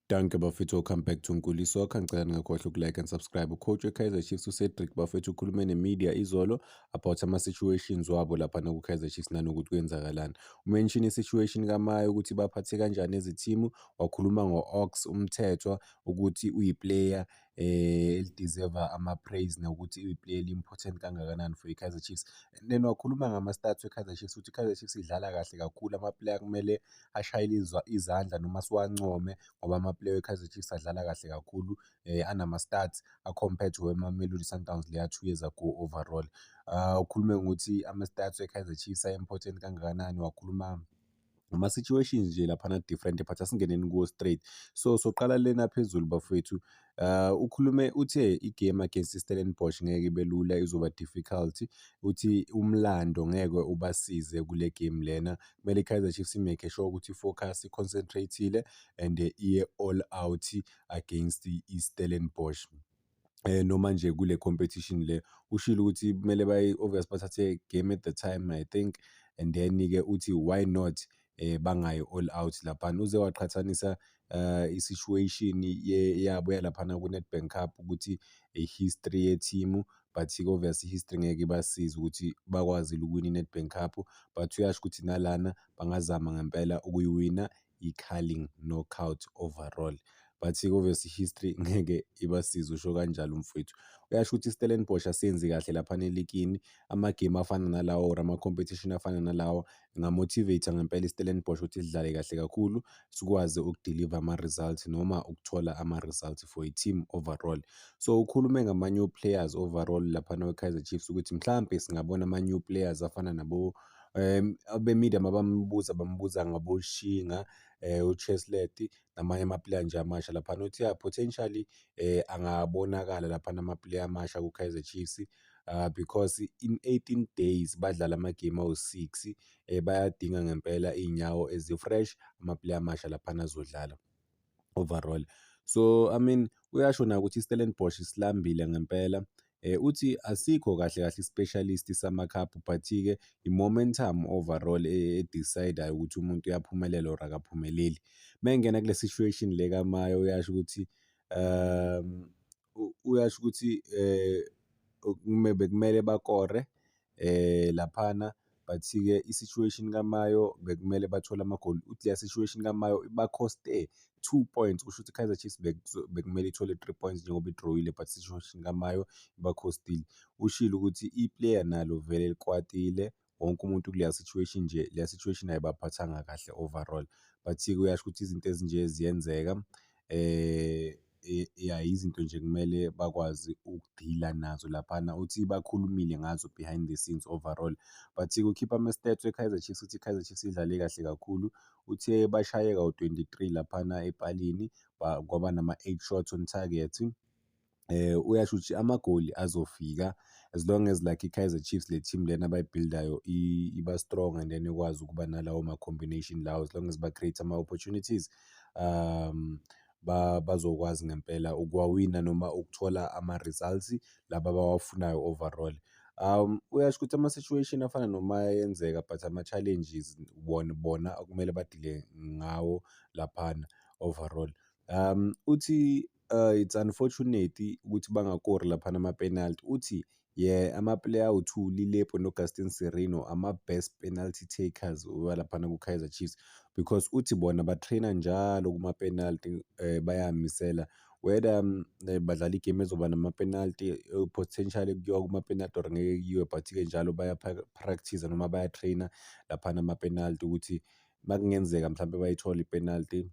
Danke bafethu welcome back to Nkuli Soccer ngicela ningakhohlwa ukulike and subscribe ucoach weKaizer Chiefs uCedric bafethu ukhulume nemedia izolo about ama situations wabo lapha na kuKaizer Chiefs nanokuthi kwenzakalani umention isituation kaMaye ukuthi baphathe kanjani ezithimu wakhuluma ngoOx umthethwa ukuthi uyiplayer Eli-deserve-a ama-praise nokuthi iwuplay eli-important kangakanani for i-Kaizer Chiefs and then wakhuluma ngama-stats we-Kaizer Chiefs ukuthi i-Kaizer Chiefs idlala kahle kakhulu ama-player akumele ashayele izandla noma siwancome ngoba ama-player we-Kaizer Chiefs adlala kahle kakhulu anama-stats a-compared to weMamelodi Sundowns leya two years ago overall. Ukhulume ngokuthi ama-stats we-Kaizer Chiefs a-important kangakanani wakhuluma. ama-situations nje laphana different but asingeneni kuwo straight so soqala lena phezulu bafowethu uh, ukhulume uthe igame against istellenbosch ngeke ibe lula izoba difficult uthi umlando ngeke ubasize kule game lena kumele ikaizer chiefs imake sure ukuthi ifocus iconcentrateile and iye all out against istellenbosch eh noma nje kule competition le ushilo ukuthi kumele bayi obvious bathathe game at the time i think and then ke uthi why not eh bangayi all out lapha uze waqhathanisa uh i-situation yabo yalaphana ku-Nedbank Cup ukuthi i-history ye-team but obvious i-history ngeke ibasize ukuthi bakwazile ukuwina i-Nedbank Cup but uyasho ukuthi nalana bangazama ngempela ukuyiwina yiCarling Knockout overall. Bathi obviously history ngeke ibasize usho kanjalo mfowethu. Uyasho ukuthi iStellenbosch asenzi kahle lapha nelikini. Amagame afana nalawo or ama-competition afana nalawo ngamotivate ngempela iStellenbosch ukuthi sidlale kahle kakhulu sikwazi ukudeliver ama-results noma ukuthola ama-results for i-team overall. So ukhulume ngama-new players overall laphana kwiKaizer Chiefs ukuthi mhlampe singabona ama-new players afana nabo Abe-media mabambuza bambuza ngaboShinga, uCheslert namanye amapuleya nje amasha laphana. Uthi yah potentially angabonakala laphana amapuleya amasha kuKaizer Chiefs because in eighteen days badlala amagemu awu-six. Bayadinga ngempela iy'nyawo ezi-fresh amapuleya amasha laphana azodlala. overall so i mean uyasho nayo ukuthi istellenbosch isilambile ngempela Eh, uthi asikho kahle kahle i-specialist samakhaphu but-ke i-momentum overall e-, e-decidayo ukuthi umuntu uyaphumelela or akaphumeleli. Uma engena kule situation le kaMayo uyasho ukuthi um Uyasho ukuthi bekumele bakore laphana but-ke i-situation kaMayo bekumele bathole amagoli, uthi leya situation kaMayo ibakhoste two points, kusho ukuthi i-Kaizer Chiefs bekumele ithole three points njengoba idroyile but i-situation kaMayo ibakhostile. Ushilo ukuthi i-player nalo vele likwatile. wonke umuntu kuleya situation nje leya situation ayibaphathanga kahle overall but-ke uyasho ukuthi izinto ezinje ziyenzeka um ya izinto nje kumele bakwazi ukudila nazo laphana uthi bakhulumile ngazo behind the scenes overall but kukhipha ama-stats we-kaizer chiefs uthi i-kaizer chiefs idlale kahle kakhulu uthe bashayeka u-23 laphana epalini kwaba nama-8 shots on target eh uyasho ukuthi amagoli azofika as long as like iKaizer Chiefs le team lena abayibuildayo iba strong and then ikwazi ukuba nalawo ma combination lawo as long as ba create ama opportunities um ba bazokwazi ngempela ukuwawina noma ukuthola ama results laba abawafunayo overall um uyasho ukuthi ama situation afana noma yenzeka but ama challenges bona bona okumele badile ngawo laphana overall um uthi Uh, it's unfortunate ukuthi bangakori laphana ama-penalty uthi yeah amaplayer awu-two lilepo nogastin serino ama-best penalty takers walaphana ku-kaizer chiefs because uthi bona batraina njalo kuma-penalty um eh, bayamisela whether um, eh, badlala igame ezoba nama-penalty eh, potentially kuyiwa kuma-penalty or ngeke kuyiwe but-ke njalo bayapractice noma bayatraina laphana ama-penalty ukuthi makungenzeka mhlawumbe bayithole ipenalty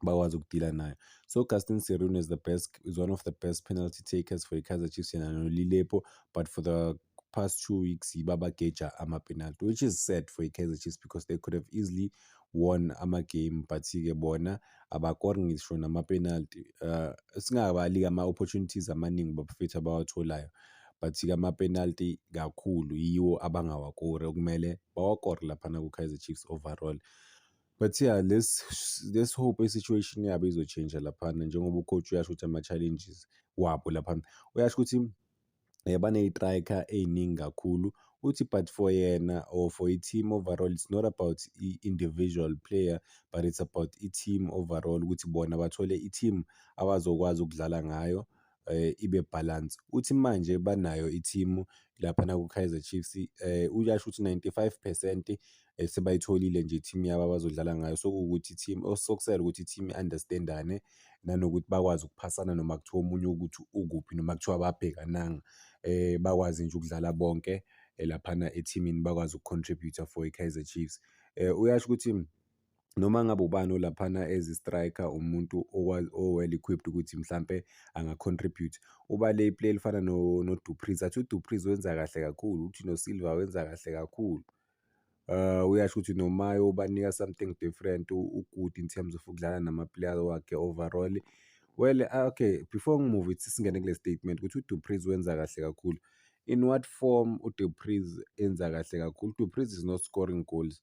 bakwazi ukudila nayo so gaston serun is the best is one of the best penalty takers for ikaizer chiefs yena nolilepo but for the past two weeks yiba bageja amapenalty which is sad for ikaizer chiefs because they could have easily won amagame but-ke bona abakori ngisho namapenalty uh, eh, singabali-ke ama-opportunities amaningi bafethu abawatholayo but-ke amapenalty kakhulu yiwo abangawakori okumele bawakore laphana ku-kaizer chiefs overall But yeah, let's let's hope i-situation yabo izotshintsha laphana njengoba ucoach uyasho ukuthi ama-challenges wabo laphana. Uyasho ukuthi um eh, baney'trayikha ey'ningi kakhulu uthi but for yena or for i-team overall it's not about i-individual player but it's about i-team overall ukuthi bona bathole i-team abazokwazi ukudlala ngayo um ibe balance. Uthi manje banayo ithimu laphana ku-Kaizer Chiefs um uyasho ukuthi ninety-five percent um sebayitholile nje ithimu yabo abazodlala ngayo. Sekuwukuthi ithimu osokusele ukuthi ithimu i-understand-ane nanokuthi bakwazi ukuphasana noma kuthiwa omunye ukuthi ukuphi noma kuthiwa ababhekananga. Um bakwazi nje ukudlala bonke laphana ethimini bakwazi uku-contribute-a for i-Kaizer Chiefs. Uyasho ukuthi noma ngabe ubani olaphana as striker umuntu o-well equipped ukuthi mhlampe anga-contribute uba le play elifana no-dupriz athi udupriz wenza kahle kakhulu uthi nosilva wenza kahle kakhulu uh, uyasho ukuthi nomayo ubanika something different ugood in terms of ukudlala nama-player wakhe overall well ah, okay before ngimuve ithi singene kule statement ukuthi udupriz wenza kahle kakhulu in what form udupriz enza kahle kakhulu udupriz is not scoring goals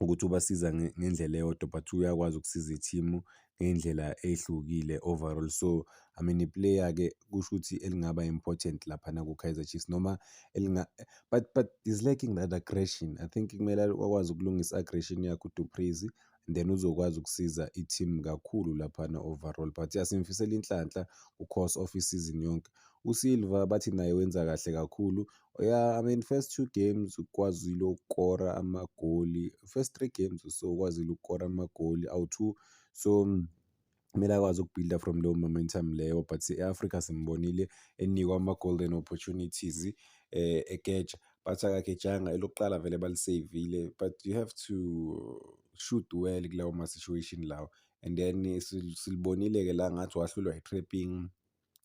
ukuthi ubasiza ngendlela eyodwa but uyakwazi ukusiza ithimu ngey'ndlela ey'hlukile overall. So, I mean iplayer-ke kusho ukuthi elingaba important laphana ku-Kaizer Chiefs noma elinga but but he's lacking that aggression. I think kumele akwazi ukulungisa i-aggression yakhe uDu Preez then uzokwazi ukusiza i-team kakhulu laphana overall. But yeah simfisela inhlanhla ku-course of isizini yonke. USilva bathi naye wenza kahle kakhulu, Yeah, I mean first two games ukwazile ukukora amagoli. First three games so ukwazile ukukora amagoli awu-two. So mm, kumele akwazi ukubuilda from leyo momentum leyo but e-Africa simbonile enikwa ama-golden opportunities um eh, ekeja but akakejanga elokuqala vele baliseyivile but you have to shoot well kulawo ma-situation lawo and then silibonile-ke la ngathi wahlulwa i-trapping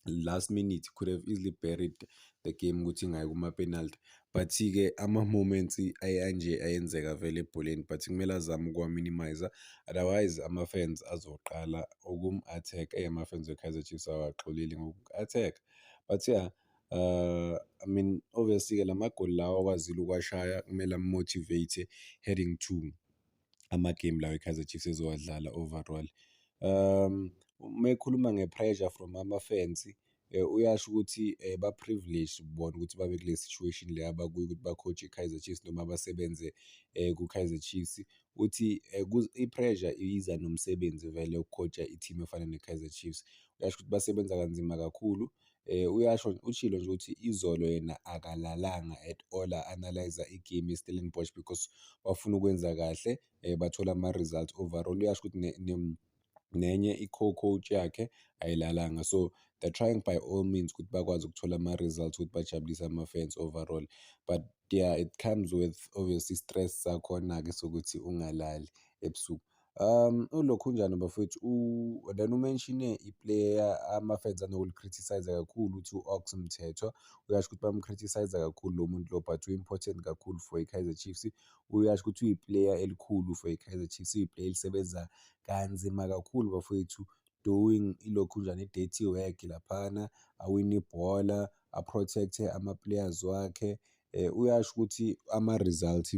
last minute could have easily buried the game ukuthi ngayi kuma-penalty but-ke ama-moments anje ayenzeka vele ebholeni but kumele azame ukuwa-minimize otherwise ama-fans azoqala ukum-attack eyi ama-fans we-kaizer chiefs awaxoleli ngoku-attack but ya yeah, Uh, I mean obviously-ke la magoli lawa akwazile ukuwashaya kumele amumotivate heading to amagame lawo i-Kaizer Chiefs ezowadlala overall. Um, uma ekhuluma nge-pressure from ama-fans eh, uyasho ukuthi eh, ba-privileged bona ukuthi babe kule situation le abakuyo ukuthi bacoach i-Kaizer Chiefs noma basebenze eh, ku-Kaizer Chiefs. Uthi eh, kuz- i-pressure iza nomsebenzi vele ukucoacha i-team efana ne-Kaizer Chiefs. Uyasho ukuthi basebenza kanzima kakhulu Uyasho ushilo nje ukuthi izolo yena akalalanga at all a-analyse-a i-game ye-Stellenbosch because bafuna ukwenza kahle bathola ama-results overall. Uyasho ukuthi nenye i-co-coach yakhe ayilalanga so they're trying by all means ukuthi bakwazi ukuthola ama-results ukuthi bajabulise ama-fans overall but yeah it comes with obviously stress sakhona-ke sokuthi ungalali ebusuku. Um, ulokhu unjani bafowethu? U then umenshine iplayer ama-fans anokulicriticise kakhulu ukuthi u-Ox Mthethwa. Uyasho ukuthi bamcriticise kakhulu lo muntu lo but u-important kakhulu for i-Kaizer Chiefs. Uyasho ukuthi uyiplayer elikhulu for i-Kaizer Chiefs, uyiplayer elisebenza kanzima kakhulu bafowethu doing ilokhu njani i-dirty work laphana, awine ibhola, a-protect-e ama-players wakhe. Uyasho ukuthi ama-result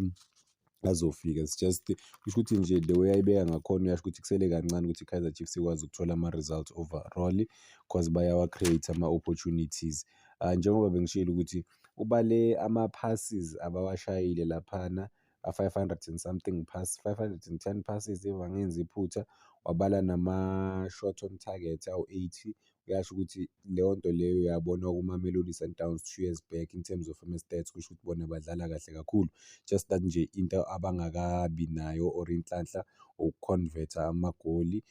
azofika it's just kusho ukuthi nje the way ayibeka ngakhona uyasho ukuthi kusele kancane ukuthi i-Kaizer Chiefs ikwazi ukuthola ama-results overall cause bayawa-create ama-opportunities um njengoba bengishilo ukuthi ubale ama-passes abawashayile laphana a-five hundred and something pass, five hundred and ten passes if angenzi iphutha wabala nama-shot on target awu-eighty kuyasho ukuthi leyo nto leyo yabonwa kuMamelodi Sundowns two years back in terms of ama-stats kusho ukuthi bona badlala kahle kakhulu just that nje into abangakabi nayo or inhlanhla uku-convert-a amagoli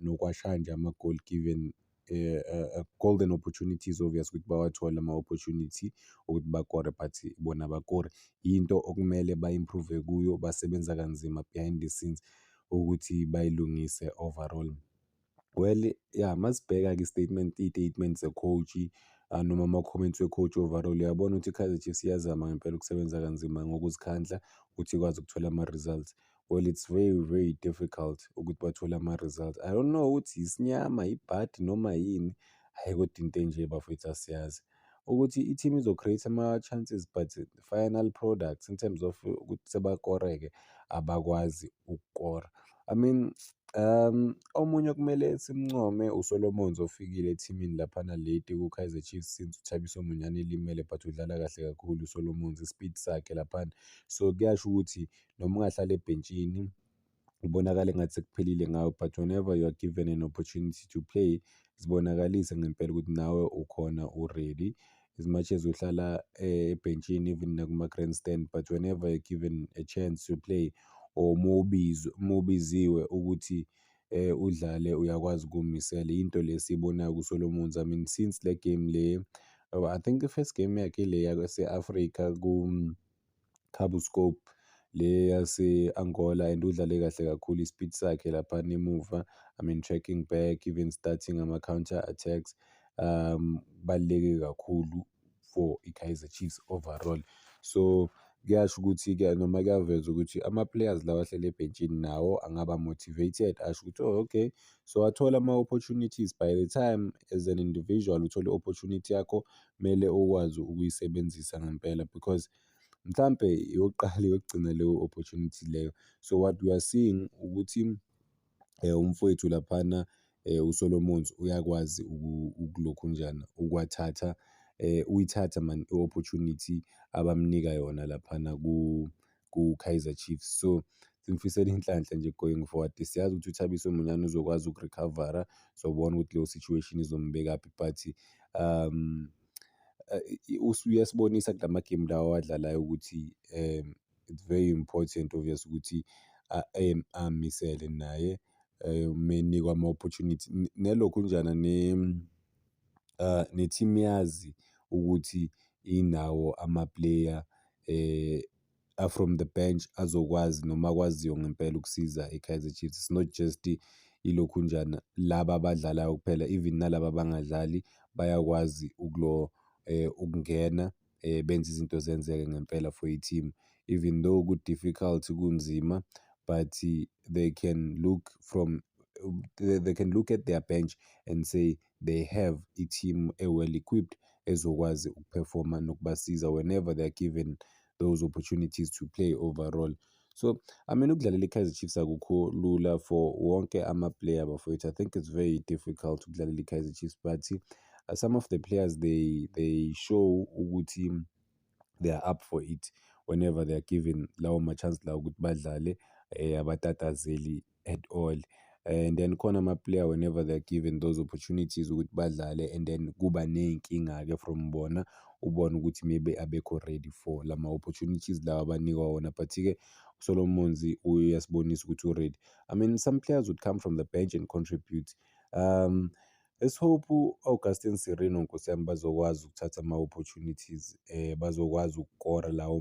nokwashaya nje amagoli given Eh, eh, eh, golden opportunities obvious ukuthi bawathole ama-opportunity ukuthi bakore but bona bakore yinto okumele ba-improve kuyo basebenza kanzima behind the scenes ukuthi bayilungise overall. Well, ya masibheka-ke i-statement iy'tatimenti ze-coach-i ah, noma ama-comments we-coach overall uyabona ukuthi i-Kaizer Chiefs iyazama ngempela ukusebenza kanzima ngokuzikhandla ukuthi ikwazi ukuthola ama-results. Well, it's very very difficult ukuthi bathole ama-results. I don't know ukuthi isinyama, ibhadi noma yini, hhayi kodwa into enje bafwethu asiyazi. ukuthi i-team izo-create ama-chances but final products in terms of ukuthi sebakoreke abakwazi ukukora. I mean um omunye okumele simncome uSolomons ofikile ethimini laphana late ku-Kaizer Chiefs since uThabiso Monyane elimele but udlala kahle kakhulu uSolomons i-speed sakhe laphana. So kuyasho ukuthi noma ungahlala ebhentshini kubonakala engathi sekuphelile ngawe but whenever you are given an opportunity to play zibonakalise ngempela ukuthi nawe ukhona uready as much as uhlala eh, ebhentshini even nakuma-grandstand but whenever you're given a chance to play or mubiziwe ukuthi eh udlale uyakwazi ukumisela into lesiyibonayo kuSolomons I mean since le game le I think the first game yakhe le yase-Africa ku Cabo Scope le yase-Angola and udlale kahle kakhulu i-speed sakhe laphana emuva I mean tracking back even starting ama-counter attacks um baluleke kakhulu for i-Kaizer Chiefs overall so kuyasho ukuthi ke noma kuyaveza ukuthi ama-players lawa ahlele ebhentshini nawo angaba motivated asho ukuthi oh okay so wathola ama-opportunities by the time as an individual uthole i-opportunity yakho kumele ukwazi ukuyisebenzisa ngempela because mhlampe yokuqala yokugcina leyo opportunity leyo. So what we are seeing ukuthi eh, umfowethu laphana eh, uSolomons uyakwazi ukulokhu njana ukwathatha eh, uyithatha man i-opportunity abamnika yona laphana ku kuKaizer Chiefs. So, simfisela inhlanhla nje going forward. Siyazi ukuthi uThabiso Monyane uzokwazi ukurecover-a, sobona ukuthi leyo situation izombekaphi but um uyasibonisa kula magemu lawa awadlalayo ukuthi um it's very important obvious ukuthi um amisele naye um menikwa ama-opportunity. Nelokhunjana ne. ne-team yazi ukuthi inawo ama-player a-from the bench azokwazi noma akwaziyo ngempela ukusiza i-Kaizer Chiefs. It's not just ilokhunjana laba abadlalayo kuphela even nalaba abangadlali bayakwazi ukungena. benze izinto zenzeke ngempela for i-team. Even though ku-difficult, kunzima but they can look from, they can look at their bench and say they have i-team e-well equipped ezokwazi ukuphefoma nokubasiza whenever they are given those opportunities to play overall. so i mean ukudlalela i-kaizer chiefs akukho lula for wonke ama-player bafowethu i think it's very difficult ukudlalela i-kaizer chiefs but uh, some of the players they, they show ukuthi they are up for it whenever they are given lawo ma-chance lawo ukuthi badlale um abatatazeli at all and then khona ama-player whenever they're given those opportunities ukuthi badlale and then kuba ney'nkinga-ke from bona ubone ukuthi maybe abekho ready for la ma-opportunities lawa abanikwa wona but-ke uSolomon Monzi uyasibonisa ukuthi u-ready I mean some players would come from the bench and contribute um let's hope u-Augustine Sirino nkosi yami bazokwazi ukuthatha ama-opportunities um bazokwazi ukukora lawo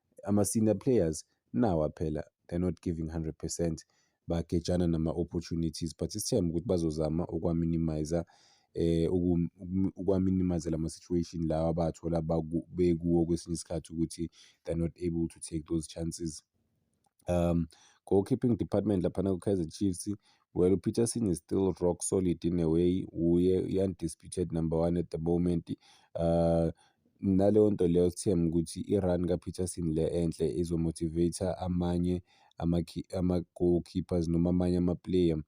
ama-senior players nawa phela they're not giving 100 percent bagejana nama-opportunities but isithemba ukuthi bazozama ukwaminimizer eh ukwaminimize lama situation lawa abathola bekuwo kwesinye isikhathi ukuthi they're not able to take those chances um goalkeeping department laphana ku-kaizer chiefs well upeterson is still rock solid in a way uye i-undisputed number one at the moment uh Naleyo nto leyo sithemba ukuthi i-run kaPeterson le enhle izomotivate amanye ama-goalkeepers noma amanye ama-player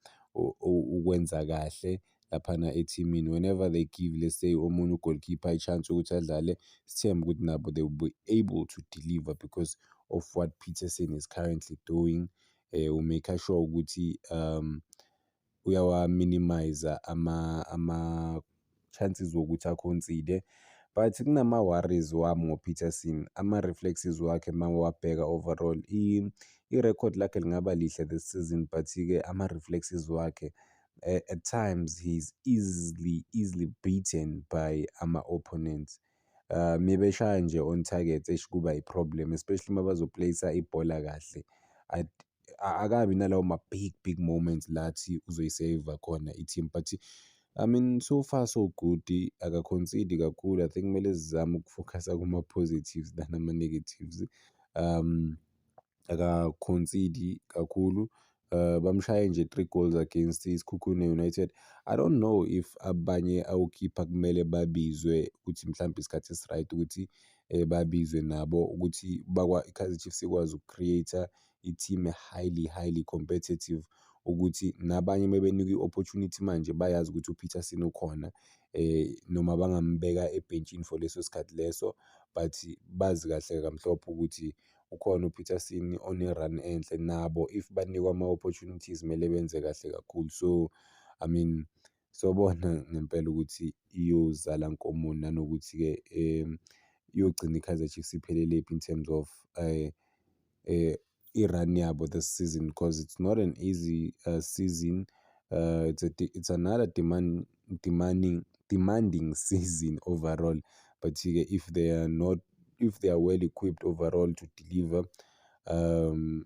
ukwenza kahle laphana ethimini. Whenever they give let's say omunye u-goalkeeper i-chance yokuthi adlale, sithemba ukuthi nabo they will be able to deliver because of what Peterson is currently doing. Eh, u-make-a sure ukuthi um uyawa-minimize ama-chances wokuthi a-concede but kunama-worries wami ngoPeterson, ama-reflexes wakhe uma uwabheka overall. I-record lakhe lingaba lihle this season but-ke ama-reflexes wakhe at times he is easily, easily beaten by ama-opponents. Uma beshaya nje on target eish kuba i-problem especially uma bazo-place-a ibhola kahle. akabi nalawo ma big big moments lathi uzoyiseva khona i-team but I mean so far so good akaconcede kakhulu I think kumele sizame ukufocusa kuma-positives than ama-negatives um akaconcede kakhulu uh, bamshaye nje three goals against isikhukhune united i don't know if abanye awukhipha kumele babizwe ukuthi mhlawumbe isikhathi esiright ukuthi um babizwe nabo ukuthi i-kaizer chiefs ikwazi uku-create-a i-team e-highly highly competitive ukuthi nabanye uma benikwa i-opportunity manje bayazi ukuthi uPeterson ukhona eh noma bangambeka ebhentshini for leso sikhathi leso but bazi kahle kamhlophe ukuthi ukhona uPeterson one-run enhle nabo if banikwa ama-opportunities kumele benze kahle kakhulu so I mean sobona ngempela ukuthi iyozala nkomoni nanokuthi-ke iyogcina iKaizer Chiefs iphelelaphi in terms of i-run yabo this season because it's not an easy uh, season uh, it's, a, it's another demand, demanding, demanding season overall but ke if they are not if they are well equipped overall to deliver um,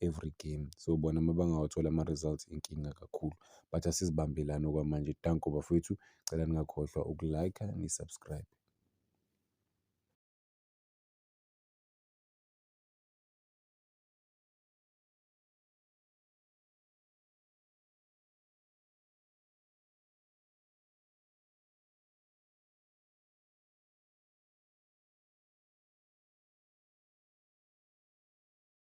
every game. So bona uma bangawathola ama-results inkinga kakhulu. But asizibambelani okwamanje. Danko bafowethu, cela ningakhohlwa uku-like-a ni-subscribe.